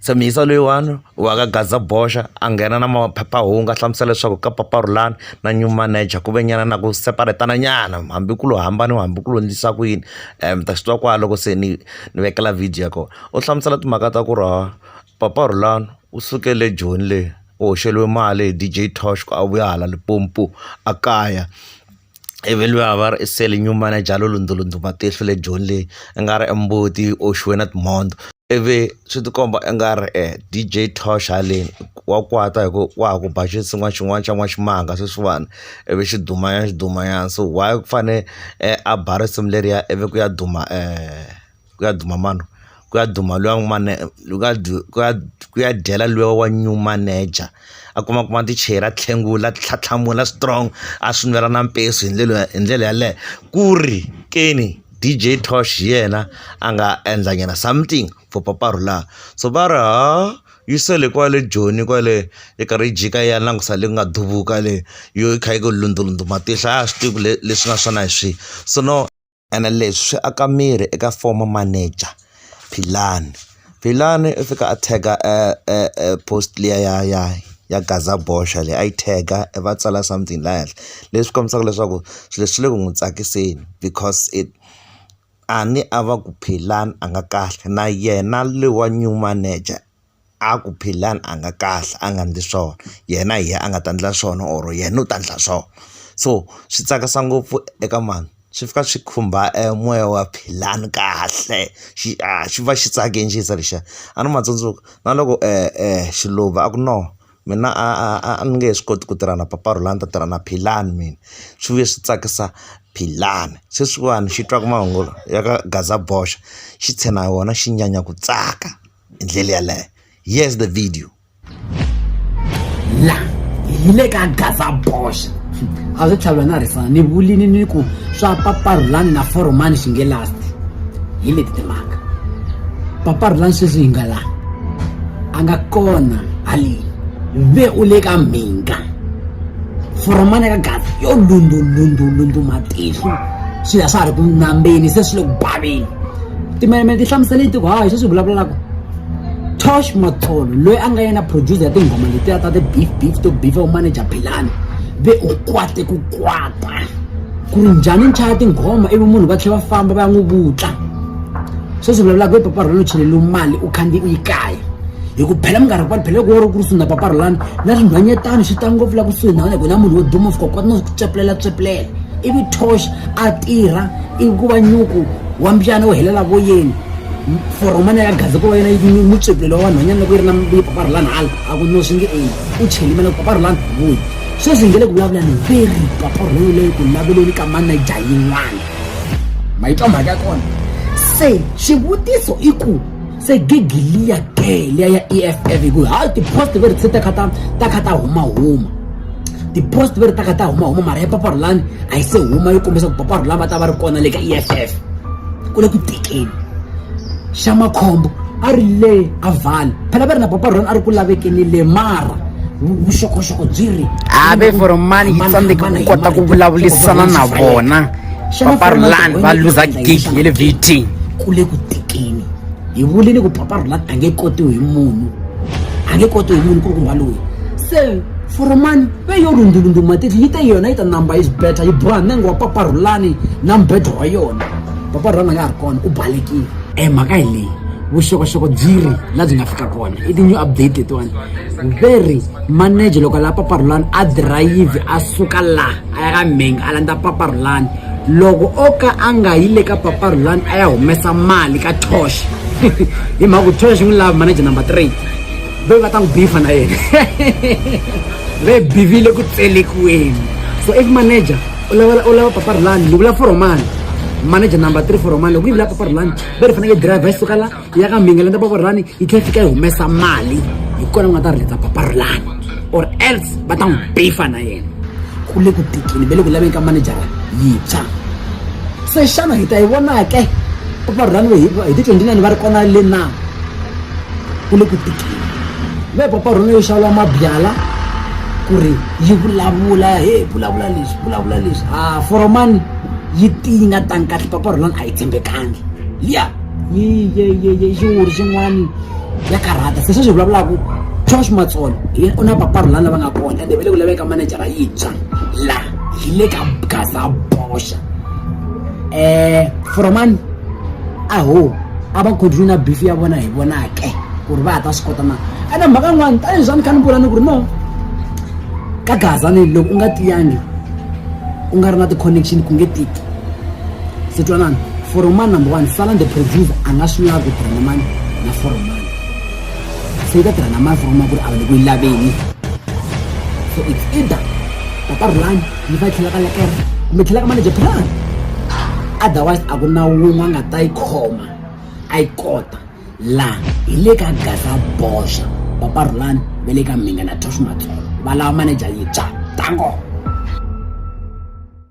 Tshemisa loyiwani wa ka Gaza boxa a nghena na maphephahungu a hlamusela leswaku ka paparhulani na new manager ku ve nyana na ku separate-tana nyana hambi ku lo hambana hambi ku lo endlisa ku yini mi ta swi twa kwala loko se ni ni vekela video ya kona u hlamusela timhaka ta ku ri ha paparhulani u suke le joni le u hoxeliwe mali hi D_J Tosh ku a vuya hala Limpopo a kaya. ivi luya va ri i sale new manager lo lundzulundzu matihlo le joni leyi i nga ri i mbuti yi oxiwe na timhondzo ivi swi ti komba i nga ri e D_J Tosh haleni wa kwata hi ku wa ha ku ba xinsin'wana xin'wana xa n'waximanga sweswiwani ivi xi duma nyana xi duma nyana so why ku fane a ba risimu leriya ivi ku ya duma . ku ya duma mani ku ya duma luya n'wi mane ku ya ku ya ku ya dyela luya wa new manager a kuma kuma ti chair a tlhengula tlhatlhamula strong a swi nwela na mpeso hi ndlela hi ndlela yaleyo ku ri ke ni D_J Tosh hi yena a nga endla nyana something for papa Rhulani so va ri ha yi sele kwale joni kwale yi karhi yi jika yi ya langusa leyi ku nga duvula le yo yi kha yi ku lundza lundza matihlo a swi tivi ku leswi nga swona hi swihi so no. ene leswi swi aka miri eka former manager Philani Philani u fika a tag-a post liya ya ya ya Gaza boxa leyi a yi tag-a va tsala something laha henhla leswi kombisaka leswaku swilo leswi swi le ku n'wi tsakiseni because it a ni a va ku Philani a nga kahle na yena lowa new manager. a ku Philani a nga kahle a nga endli swona yena hi yena a nga ta endla swona or yena u ta endla so so swi tsakisa ngopfu eka mhani swi fika swi khumba e moya wa Philani kahle xi a xi va xi tsake ncisa lexiya a ni ma tsundzuka na loko Xiluva a ku no mina a a a a ni nge he swi koti ku tirha na papa Rhulani ni ta tirha na Philani mina swi vuye swi tsakisa Philani sweswiwani xi twa ku mahungu ya ka gaza boxa xi tshena hi wona xi nyanya ku tsaka. hi ndlela yaleyo yes the video la hi le ka gaza boxa a swi tlhavula na rifana ni vulini ni ku swa paparhulani na foromani swi nge lasti hi leti timhaka paparhulani sweswi hi nga la a nga kona haleni ve u le ka mhinga foromani ka gaza yo lundulundulundu matihlo swilo a swa ha ri ku nambeni se swi le ku baveni timelemele ti hlamusele tiko hayi sweswi vulavulelaka tosh matholo loyi a nga yena producer ya tinghoma letiya ta ti-beef beef to beef u manager philani ve u kwate ku kwata ku ri njhani nchaya tinghoma ivi munhu va tlhela va famba va ya n'wi vutla sweswi vulavulaka hi paparhulani u cheleliwe mali u khandziye u yi kaya hi ku phela minkarhi kwani phela loko wo ri ku ri swi na paparhulani na swinhwanyetani swi ta ngopfu la kusuhi na wena ku na munhu wo duma fika kwati no swi ku tswepulela tswepulela ivi tosh a tirha ivi ku va nyuku wa mbyana wu helela voyeni foromana ya gazi ko wa yena yi mutswepulelo wa vanhwanyana loko yi ri na vupaparhulani hala a ku no swi nge eyi u chelima loko paparhulani vuyi sweswi hi nge le ku vulavulani veri paparhulani leyi ku laveleni ka manaja yin'wana ma yi twa mhaka ya kona se xivutiso i ku se gigi liya ke liya ya eff hikuva hayi ti-post ve ri se ta kha ta ta kha ta humahuma ti-post ve ri ta kha ta humahuma mara ya paparhulani a yi se huma yi kombisa ku paparhulani va ta va ri kona le ka eff ku le ku tekeni xa makhombo a ri le a vale phela va ri na paparhulani a ri ku lavekeni le mara vuxokoxoko byi ri have foromani yi tsandzeke ku kota ku vulavulisana na vona paparhulani va luza gigi ya le vt ku le ku tekeni hi vulini ku paparula a nge kotiwi hi munhu a nge kotiwi hi munhu ku ri kumba loyi se foromani ve yo rundulundu matitli yi te yona yi ta number is better yi boha nenge wa paparhulani na mbedo wa yona paparhulani a nga ha ri kona u balekile e mhaka hi leyi vuxokoxoko byi ri la byi nga fika kona i ti-new update letiwani ve ri manager loko a lava paparhulani a dirayivhi a suka laha a ya ka mhenga a landza paparhulani loko o ka a nga yi le ka paparhulani a ya humesa mali ka tosh hi mhaka ku tosh n'wi lava manager number three ve va ta n'wi bifa na yena ve bivile ku tselekiweni so if manager u lava u lava paparhulani ni vula foromani manager number three foromani loko yi vula paparhulani ve ri fanekele driver yi suka la ya ka mbinga lenda paparulani yi tlhela fika yi humesa mali hi kona ku nga ta riletsa paparulani or else va ta n'wi bifa na yena ku le ku tikini ve le ku laveni ka manejara yintshwa se xana hi ta yi vonake paparulani we hi ti twenty nine va ri kona le na ku le ku tikini ve paparulani yo xawula mabyala ku ri yi vulavula he vulavula leswi vulavula leswi a foromani yi tinga tani kahle paparulani a yi tshembekangi liya yiyiyiyiyiuri xin'wani ya karhata se sweswi hi vulavulaka josh matsolo u na paparu lani lava nga kona ende va le ku laveka manejara yintshwa la hi le ka gaza boxa um eh, foromani aho a va continue na beef ya vona hi vonake ku ri va ha ta swi kota na ene mhaka yin'wani tanihi swa ni kha ni vula ni ku ri no ka gaza ni loko u nga tiyangi u nga ri na ti-connection ku nge tiki se twanana foromani number one salan the producer a nga swi lavi tiranamani na foromani se yi ka tiranamani foromani ku ri a va le ku yi laveni so it's either tata rulani yi fa yi tlhela ka lekera kumbe tlhela ka manager plan otherwise a ku na wun'we a nga ta yi khoma a yi kota laha hi le ka gasa boxa papa rulani va le ka mhinga na toshmat va lava manager yintshwa tango